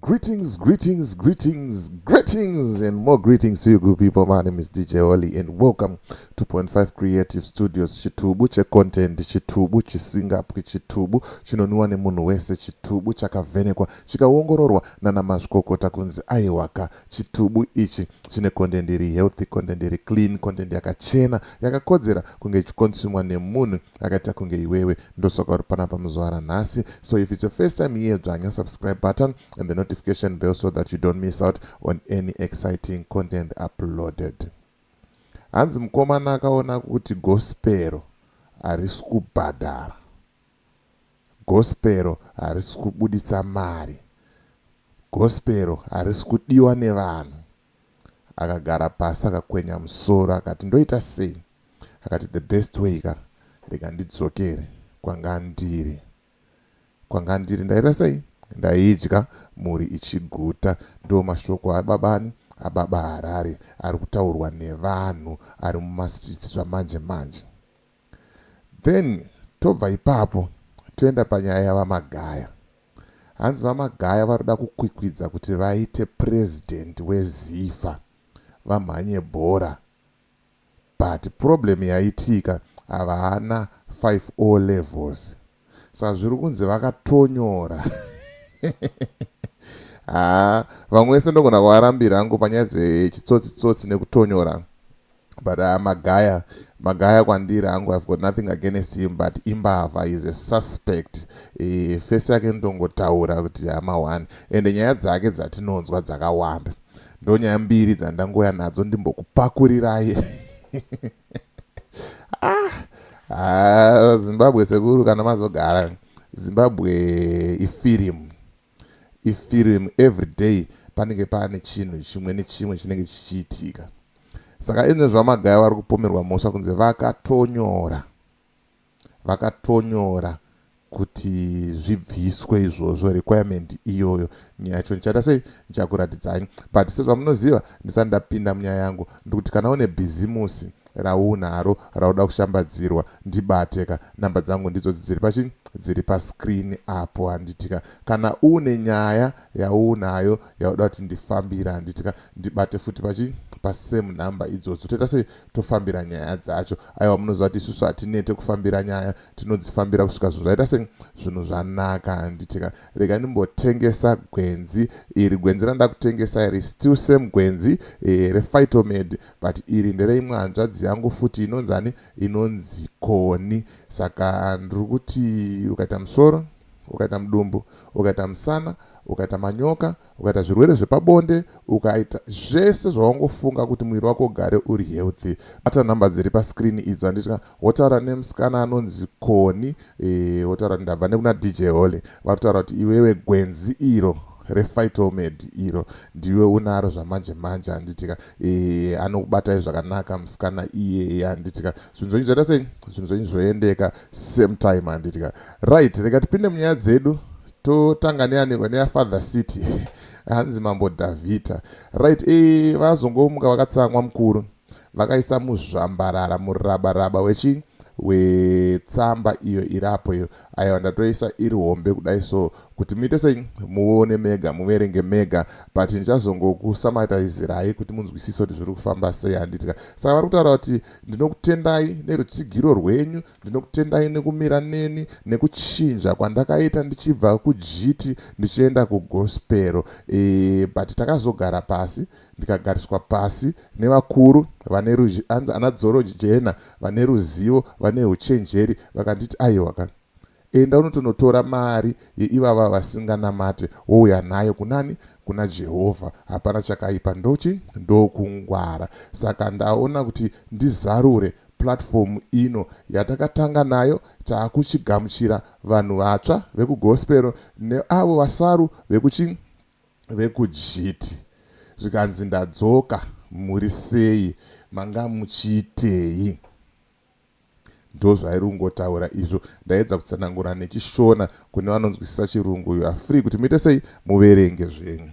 Greetings, greetings, greetings, greetings, and more greetings to you good people. My name is DJ Oli, and welcome to Point Five Creative Studios. Chitubu che content, chitubu chisingapwi, chitubu chinonwiwa nemunhu wese, chitubu chakavhenekwa chikaongororwa nana mazvikokota kunzi aiwaka. Chitubu ichi chine content iri healthy, content iri clean, content yakachena yakakodzera kunge ichikonsumwa nemunhu akaita kunge iwewe ndosaka uri panapa muzvara nhasi so if it's your first time here dzvanya subscribe button and the notification bell so that you don't miss out on any exciting content uploaded hanzi mukomana akaona kuti gospero harisi kubhadhara gospero harisi kubuditsa mari gospero harisi kudiwa nevanhu Akagara pasi akakwenya musoro akati ndoita sei? Akati the best way ka rega ndidzokere kwanga ndiri kwanga ndiri ndaita sei? Ndaidya mhuri ichiguta ndo mashoko ababani ababa Harare ari kutaurwa nevanhu ari mumastreets zvamanje manje. Then tobva ipapo toenda panyaya yaVaMagaya. Hanzi VaMagaya varikuda kukwikwidza kuti vaite president weZifa vamhanye bhora but problem yaitika havana 5 O levels. Sazviri kunzi vakatonyora haa vamwe vese ndogona kuvarambira hangu panyaya dzechitsotsi tsotsi nekutonyora but uh, magaya magaya kwandiri hangu i've got nothing against him but imbavha is a suspect e, fesi yake ndongotaura kuti hama one ende nyaya dzake dzatinonzwa dzakawanda ndonyaya mbiri dzandangouya nadzo ndimbokupakurirai ah, ah, zimbabwe sekuru kana mazogara zimbabwe ifirimu ifirimu every day panenge pane chinhu chimwe nechimwe chinenge chichiitika saka izvo zvamagaya vari kupomerwa mhosva kunze vakatonyora Vakatonyora kuti zvibviswe izvozvo requirement iyoyo nyaya yacho ndichaita sei ndichakuratidzai but sezvamunoziva ndisati ndapinda munyaya yangu ndikuti kana une bhizimusi raunaro rauda kushambadzirwa ndibate ka number dzangu ndidzodzi dziri pachi dziri pascreen apo handitika kana une nyaya yaunayo yauda kuti ndifambira handitika ndibate futi pachi pasame number idzodzi toita sei tofambira nyaya dzacho aiwa munoziva kuti isusu hatinete kufambira nyaya tinodzifambira kusvika zvinhu zvaita se zvinhu zvanaka handitika rega ndimbotengesa gwenzi iri gwenzi randa kutengesa iri still same gwenzi e, refightomed but iri ndereimwe hanzvadzi yangu futi inonzani inonzi koni saka ndiri kuti ukaita musoro ukaita mudumbu ukaita musana ukaita manyoka ukaita zvirwere zvepabonde ukaita zvese zvawangofunga kuti muviri wako ugare uri healthy bata nhamba dziri pascreen idzo handitika wotaura nemusikana anonzi koni e, wotaura e, ndabva nekuna dj hole vatotaura kuti iwewe gwenzi iro refightomed iro ndiwe unaro zvamanje manje handitika e, anokubatai zvakanaka musikana iyeye handitika zvinhu zvenyu zvaita sei zvinhu zvenyu zvoendeka same time handitika right rega tipinde munyaya dzedu totanga neyaniko neyafather city hanzi mambo davhita right e vazongomuka vakatsamwa mukuru vakaisa muzvambarara murabaraba wechii wetsamba iyo iri apo iyo aiwa ndatoisa iri hombe kudai so kuti muite sei muone mega muverenge mega but ndichazongokusamatizirai kuti munzwisise kuti zviri kufamba sei handitika saka vari kutaura kuti Ndinokutendai nerutsigiro rwenyu, ndinokutendai nekumira neni, nekuchinja kwandakaita ndichibva kujiti ndichienda kugospel e, but takazogara pasi ndikagariswa pasi nevakuru vane ana dzoro jena vane ruzivo vane uchenjeri vakanditi aiwa ka Enda unotonotora mari yeivava vasinganamate wouya nayo kunani? Kuna Jehovha. Hapana chakaipa ndochi? Ndokungwara. Saka ndaona kuti ndizarure platform ino yatakatanga nayo takuchigamuchira vanhu vatsva vekuGospel neavo vasaru vekuchi? vekuJiti. Zvikanzi ndadzoka muri sei? Manga muchiitei? Ndozvairi kungotaura izvo ndaedza kutsanangura nechishona kune vanonzwisisa chirungu you are free kuti muite sei muverenge zvenyu.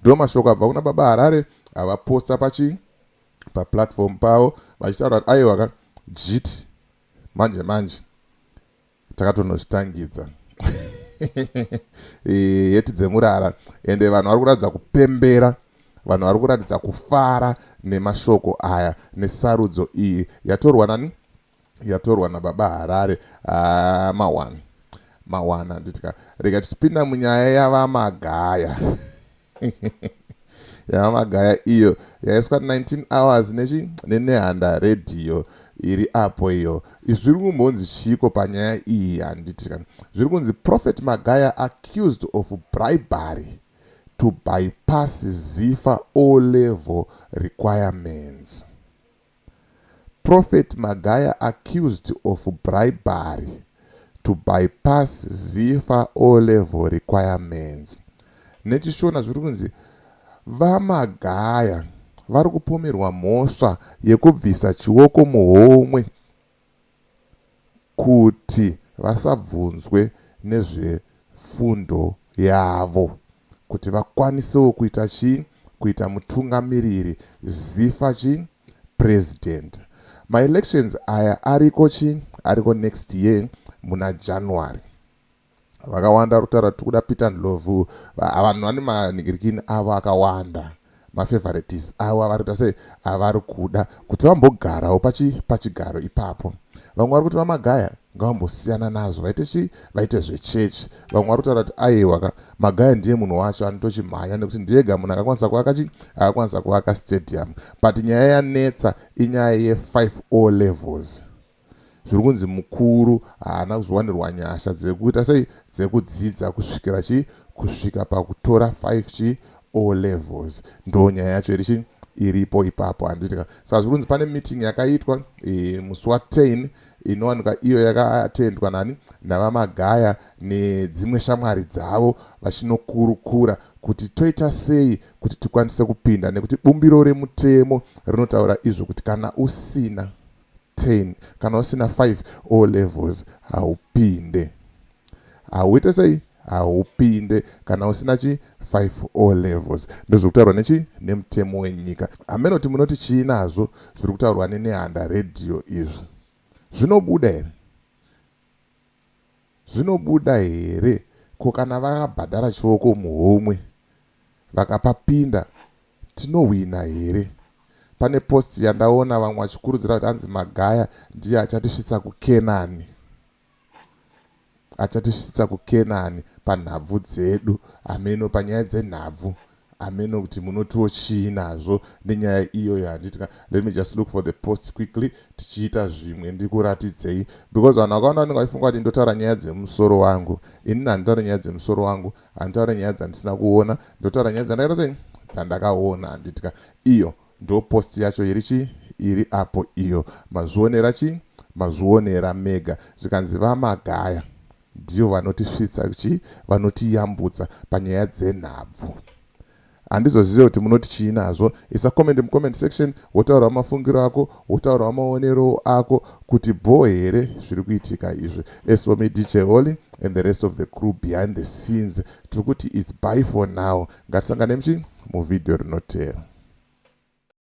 Ndomashoko abva kuna baba Harare avaposta pachi paplatform pavo vachitaura kuti aiwa ka jiti manje manje takatonozvitangidza heti dzemurara ende vanhu vari kuratidza kupembera vanhu vari kuratidza kufara nemashoko aya nesarudzo iyi yatorwa nani yatorwa nababa harare ah, mawana mawana nditika rega tichipinda munyaya yavamagaya yamagaya iyo yaiswa 19 hours nechi nenehanda redhiyo iri apo iyo zviri kumbonzi chiiko panyaya iyi handiti ka zviri kunzi prophet magaya accused of bribery to bypass zifa o level requirements Prophet Magaya accused of bribery to bypass Zifa O-Level requirements. NechiShona zviri kunzi VaMagaya vari kupomerwa mhosva yekubvisa chioko muhomwe. kuti vasabvunzwe nezvefundo yavo kuti vakwanisewo kuita chii kuita mutungamiriri zifa chii president maelections aya ariko chii ariko next year muna January Vakawanda vari kutaura tikuda Peter Ndlovu. Vanhu vane manigirikini avo akawanda. Mafavorites avo avari kuita sei avari kuda kuti vambogarawo pachi pachigaro ipapo. Vamwe vari kuti VaMagaya ngavambosiyana nazvo vaite chi vaite zvechechi. Vamwe vari kutaura kuti aiwa ka Magaya ndiye munhu wacho anotochimhanya nekuti ndiyega munhu akakwanisa kuvaka chi akakwanisa kuvaka stadium. But nyaya yanetsa inyaya ye 5 O levels. zviri kunzi mukuru haana kuzowanirwa nyasha dzekuita sei dzekudzidza kusvikira chii kusvika pakutora 5 chii O levels ndoo nyaya yacho iri chii iripo ipapo handiti ka saka zviri kunzi pane meeting yakaitwa e, musi wa 10 inowanika iyo yakatendwa nani navamagaya nedzimwe shamwari dzavo vachinokurukura kuti toita sei kuti tikwanise kupinda nekuti bumbiro remutemo rinotaura izvo kuti kana usina 10 kana usina 5 o levels haupinde hauite sei haupinde kana usina chi 5 o levels ndozviri kutaurwa nechi nemutemo wenyika hamenoti munoti chii nazvo zviri kutaurwa nenehanda radio izvi zvinobuda here Zvinobuda here ko kana vakabhadhara chioko muhomwe vakapapinda tinohwina here. Pane post yandaona vamwe vachikurudzira kuti hanzi Magaya ndiye achatisvitsa kuKenani. Achatisvitsa kuKenani panhabvu dzedu hameno panyaya dzenhabvu Hameno kuti munotiwo chii nazvo nenyaya iyoyo handiti ka let me just look for the post quickly tichiita zvimwe ndikuratidzei because vanhu vakawanda vanenge vachifunga kuti ndotaura nyaya dzemusoro wangu inini handitaure nyaya dzemusoro wangu handitaure nyaya dzandisina kuona ndotaura nyaya dzandakaita sei dzandakaona handiti ka iyo ndo post yacho iri chii iri apo iyo mazvionera chii mazvionera mega zvikanzi vamagaya Ndivo vanotisvitsa kuchi vanotiyambutsa panyaya dzenhabvu. Handizozive kuti munoti chii nazvo. Isa comment mucomment section wotaurawo mafungiro ako, wotaurawo maonero ako kuti bho here zviri kuitika izvi. As for me DJ Holy and the rest of the crew behind the scenes, tiri kuti it's bye for now. Ngatisanganei muchi muvideo rinoteera.